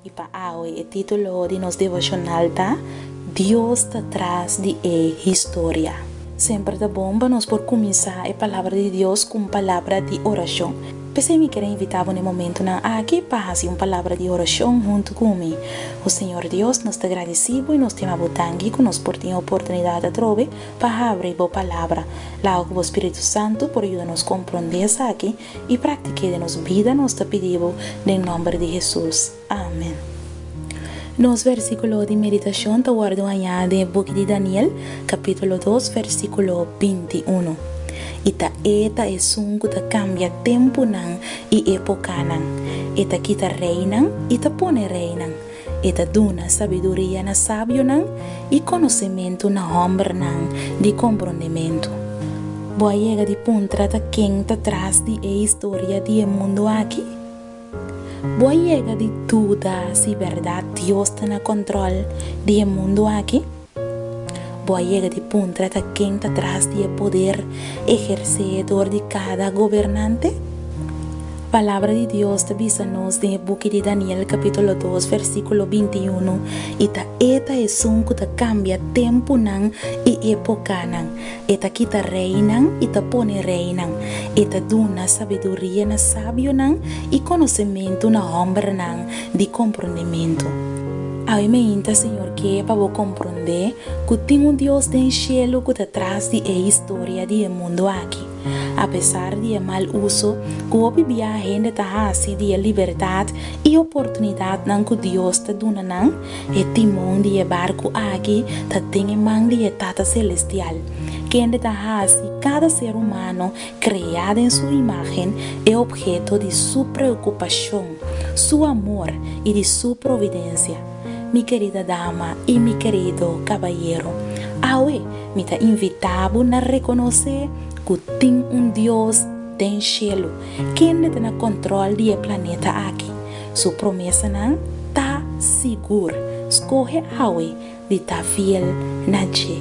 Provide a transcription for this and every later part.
I pa awe e titulo di nos devoshonal ta, Dios ta tras di e historia. Semper ta bon pa nos por kuminsá e Palabra di Dios ku un palabra di orashon. P'esei mi kere invitá bo na e momentunan aki pa hasi un palabra di orashon huntu ku mi. O Señor Dios, nos ta gradisí bo i nos tin abo tanki ku nos por tin e oportunidat atrobe Pa habri bo palabra. Laga ku bo Spiritu Santu por yuda nos komprondé esaki i praktik'é den nos bida, nos ta pidi bo den nòmber di Hesus. Amen. Nos vèrsikulo di meditashon ta wòrdu hañá den e buki di Daniel, kapítulo dos, vèrsikulo binti unu. I ta E ta Esun ku ta kambia tempunan i epokanan. E ta kita reinan i ta pone reinan. E ta duna sabiduria na sabionan i konosementu na hòmbernan di komprondementu. Bo a yega di puntra ta ken ta tras di e historia di e mundu aki? Bo a yega di duda si bèrdat Dios ta na kòntròl di e mundu aki? Bo a yega di puntra ta ken ta tras di e poder ehersé dor di kada gobernante? Palabra di Dios ta bisa nos den e buki di Daniel kapítulo dos versíkulo binti i unu, I ta e ta Esun ku ta kambia tempunan i epokanan, e ta kita reinan i ta pone reinan, e ta duna sabiduria na sabionan i konosementu na hòmbernan, di comprondementu. Awe mainta, Señor, ke pa Bo comprondé cu tin un Dios den cielu cu ta tras di e historia di e mundu aki. Apesar di e mal uso cu hopi bia hende ta haci di e libertad y oportunidadnan cu Dios ta duna nan, e timon di e barcu aki ta den e man di e Tata Celestial, kende ta haci cada ser humano Kreá den su imágen, e opheto di Su preokupashon, Su amor i di Su providensia. Mi kerida dama i mi kerido kabayero, awe mi ta invitá bo na rekonosé ku tin un Dios den shelu kende ta na kòntròl di e planeta aki. Su promesanan ta sigur. Skohe awe di ta fiel na dje,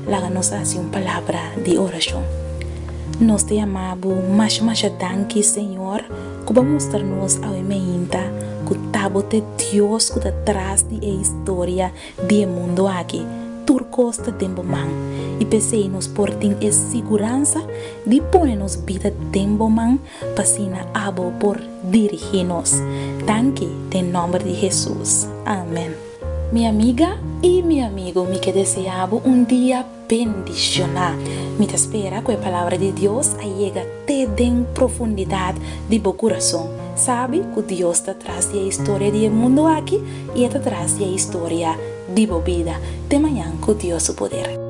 laga nos hasi un palabra di orashon. Nos ta yama Bo masha masha danki, Señor, ku Bo a mustra nos awe meinta ku ta Bo ta e Dios ku ta tras di e historia di e mundu aki. Tur kos ta den Bo man, i p'esei nos por tin e siguransa di pone nos bida den Bo man pa asina Abo por dirigí nos. Danki den nòmber di Hesus. Amen. Mi amiga i mi amigu, mi ke desea bo un dia bendishoná. Mi ta spera ku e palabra di Dios a yega te den profundidat di bo kurason. Sabi ku Dios ta tras di e historia di e mundu aki i e ta tras di e historia di bo bida. Te mañan ku Dios su poder.